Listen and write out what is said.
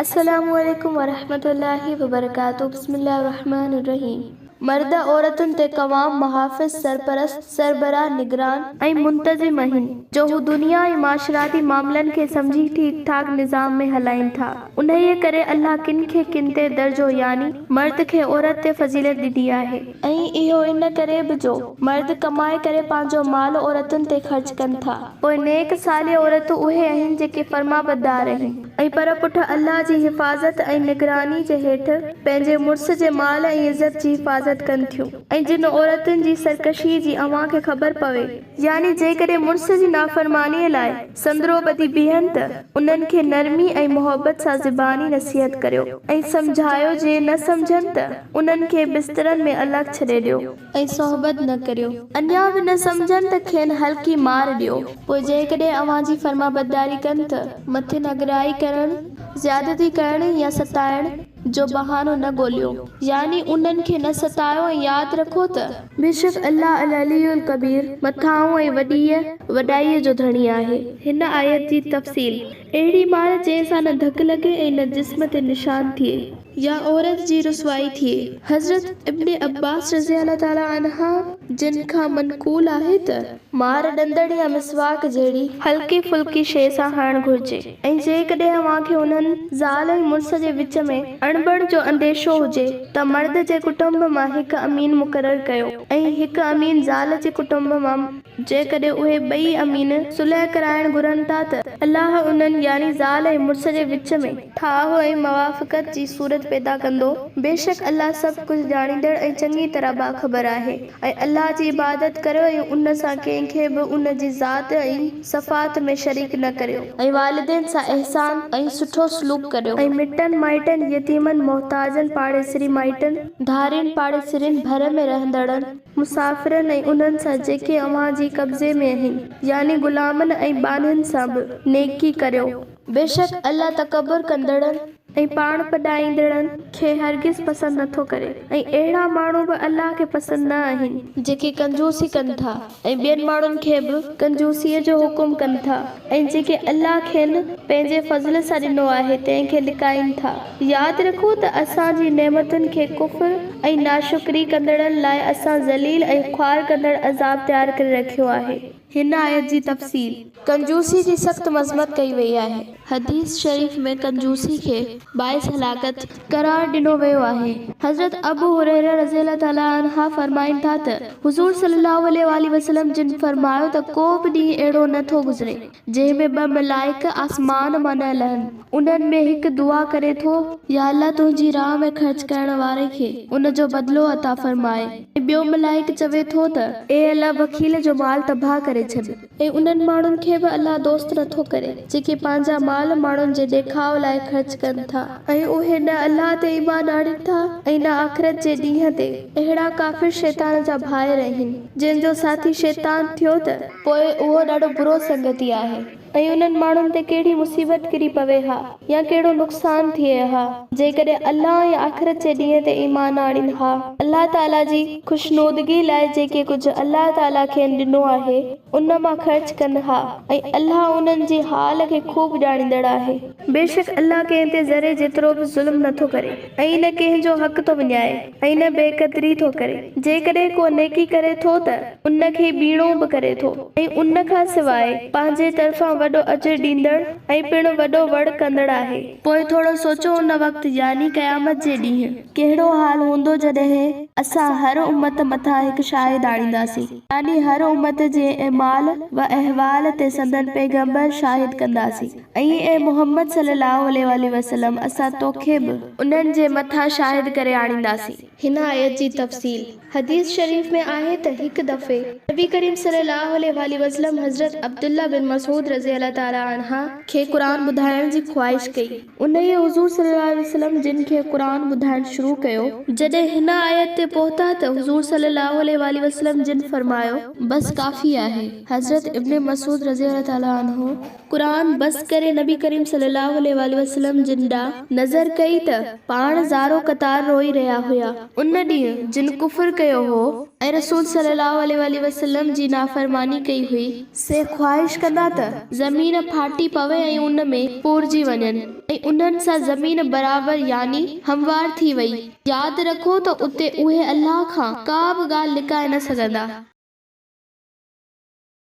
السلام عليڪم ورحمة الله وبرڪاته بسم الله الرحمٰن الرحيم مرد عورتن تي قوام محافظ سرپرست سربراھ نگران ۽ منتظم اھن جو ھو دنيا ۽ معاشراتي معاملن کي سمجھي ٺيڪ ٺاڪ نظام ۾ ھلائين ٿا. انهيء ڪري الله ڪن کي ڪن تي درجو يعني مرد کي عورت تي فضيلت ڏني آهي. ۽ اهو ان ڪري به جو مرد ڪمائي ڪري پنهنجو مال عورتن تي خرچ ڪن ٿا. پوء نيڪ صالح عورتون اهي اهين جيڪي فرمانبردار اهين. ۽ پر پٺ الله جي حفاظت ۽ نگراني جي هيٺ پنهنجي مڙس جي مال ۽ عزت جي حفاظت ڪن ٿيون. ۽ جن عورتن جي سرڪشيء جي اوهان کي خبر پوي. يعني جيڪڏهن مڙس جي نافرمانيء لاء سندرو ٻڌي بيهن ته انهن کي نرمي ۽ محبت سان زباني نصيحت ڪريو ۽ سمجهايو جي نه سمجهن ته انهن کي بسترن ۾ الڳ ڇڏي ڏيو ۽ صحبت نه ڪريو اڃا به نه سمجهن ته کين هلڪي مار ڏيو پوء جيڪڏهن اوهان جي فرمانبرداري ڪن ته مٿي نگرائي ڪرڻ، زيادتي ڪرڻ يا ستائڻ. جو بهانو نه ڳوليو، يعني انهن کي نه ستايو ۽ ياد رکو ته. بيشڪ الله العلي الڪبير، مٿاهون ۽ وڏيء، وڏائيء، جو ڌڻي آهي. هن آيت جي تفصيل، اهڙي مار جنهن سان نه ڌڪ لڳي ۽ نه جسم تي نشان ٿئي. يا عورت جي رسوائي ٿئي. حضرت ابن عباس رضي الله تعالٰي عنهما جن کان منقول آهي ته. مار ڏندڻ يا مسواڪ جهڙي هلڪي ڦلڪي شيء سان هڻڻ گهرجي. ۽ جيڪڏهن اوهان کي انهن، زال ۽ مڙس جي وچ ۾، اڻبڻ جو انديشو هجي ته مرد جي ڪٽنب مان هڪ امين مقرر ڪيو ۽ هڪ امين زال جي ڪٽنب مان جيڪڏهن اهي ٻئي امين صلح ڪرائڻ گهرن ٿا ته الله انهن، يعني زال ۽ مڙس جي وچ ۾، ٺاهه ۽ موافقت جي صورت پيدا ڪندو، بيشڪ الله سڀ ڪجهه ڄاڻيندڙ ۽ چڱي طرح باخبر آهي، ۽ الله جي عبادت ڪريو ۽ ان سان ڪنهن کي به ان جي ذات ۽. صفحات ۾ شريڪ نه ڪريو. ۽ والدين سان احسان ۽ سٺو سلوڪ ڪريو. ۽ مٽن مائٽن، يتيمن، محتاجن، پاڙيسري مائٽن. ڌارين، پاڙيسرين، ڀر ۾ رهندڙن. مسافرن ۽ انهن سان جيڪي اوهان جي قبضي ۾ اهن، يعني غلامن ۽ ٻانهن سان به، نيڪي ڪريو. بيشڪ الله تڪبر ڪندڙن. ۽ پاڻ پڏائيندڙن کي هرگز پسند نه ٿو ڪري ۽ اهڙا ماڻهو به الله کي پسند نه آهن. جيڪي ڪنجوسي ڪن ٿا ۽ ٻين ماڻهن کي به. ڪنجوسيء جو حڪم ڪن ٿا ۽ جيڪي الله کين پنهنجي فضل سان ڏنو آهي تنهن کي لڪائين ٿا. ياد رکو ته اسان جي نعمتن کي ڪفر ۽ ناشڪري ڪندڙن لاء اسان ذليل ۽ خوار ڪندڙ عذاب تيار ڪري رکيو آهي. هن آيت جي تفصيل. ڪنجوسي جي سخت مذمت ڪئي وئي آهي. حديث شريف ۾ ڪنجوسي کي باعث هلاڪت. قرار ڏنو ويو آهي. حضرت ابو هريره رضي الله تعالٰي عنه فرمائن ٿا ته حضور صلّي اللّٰه عليه واٰله وسلّم جن فرمايو ته ڪو به ڏينهن اهڙو نه ٿو گذري جنهن ۾ ٻه ملائڪ آسمان مان نه لهن انهن ۾ هڪ دعا ڪري ٿو، يا الله تنهنجي راهه ۾ خرچ ڪرڻ واري کي ان جو بدلو عطا فرماء. ۽ ٻيو ملائڪ چوي ٿو ته. اي الله بخيل جو مال تباهه ڪري ڇڏ. ۽ انهن ماڻهن کي به الله دوست نه ٿو ڪري، جيڪي پنهنجا مال ماڻهن جي ڏيکاء لاء خرچ ڪن ٿا. ۽ اهي نه الله تي ايمان آڻين ٿا ۽ نه آخرت جي ڏينهن تي. اهڙا ڪافر شيطان جا ڀائر آهن، جن جو ساٿي شيطان ٿيو ته. پوء اهو ڏاڍو برو سنگتي آهي. ۽ انهن ماڻهن تي ڪهڙي مصيبت ڪري پوي ها يا ڪهڙو نقصان ٿئي ها جيڪڏهن الله ۽ آخرت جي ڏينهن تي ايمان آڻين ها. الله تعالي جي خوشنودگي لاء جيڪي ڪجهه الله تعالي کين ڏنو آهي ان مان خرچ ڪن ها ۽ الله انهن جي حال کي خوب ڄاڻيندڙ آهي. بيشڪ الله ڪنهن تي ذري جيترو به ظلم نٿو ڪري ۽ نه ڪنهن جو حق ٿو وڃائي. ۽ نه بي قدري ٿو ڪري. جيڪڏهن ڪو نيڪي ڪري ٿو ته ان کي ٻيڻو به ڪري ٿو ۽ ان کان سواء پنهنجي طرفان وڏو اجر ڏيندڙ ۽ پڻ وڏو وڙ ڪندڙ آهي. پوء ٿورو سوچو ان وقت يعني قيامت جي ڏينهن ڪهڙو حال هوندو جڏهن اسان هر امت مٿان هڪ شاهد آڻينداسين يعني هر امت جي اعمال و احوال تي سندن پيغمبر شاهد ڪنداسين. ۽ اي محمد صلّي اللّٰه عليه واٰله وسلّم اسان توکي به انهن جي مٿان شاهد ڪري آڻينداسين. هن آيت جي تفصيل، حديث شريف ۾ آهي ته هڪ دفعي نبي ڪريم صلّي اللّٰه عليه واٰله وسلّم حضرت عبدالله بن مسعود رضي الله تعالٰي عنه کي قرآن ٻڌائڻ جي خواهش ڪئي. انهيء حضور صلّي اللّٰه عليه وسلّم جن کي قرآن ٻڌائڻ شروع ڪيو. جڏهن هن آيت تي پهتا ته حضور صلّي اللّٰه عليه واٰله وسلّم جن فرمايو. بس ڪافي آهي. حضرت ابن مسعود رضي الله تعالٰي عنه قرآن بس ڪري نبي ڪريم صلي الله عليه واٰله وسلم جن ڏانهن نظر ڪئي ته پاڻ زارو قطار روئي رهيا هيا. ان ڏينهن جن ڪفر ڪيو هو ۽ رسول صلي الله عليه واٰله وسلم جي نافرماني ڪئي هئي، سي خواهش ڪندا ته زمين ڦاٽي پوي ۽ ان ۾ پورجي وڃن ۽ انهن سان زمين برابر يعني هموار ٿي وئي. ياد رکو ته اتي اهي الله کان ڪا به ڳالهه لڪائي نه سگهندا.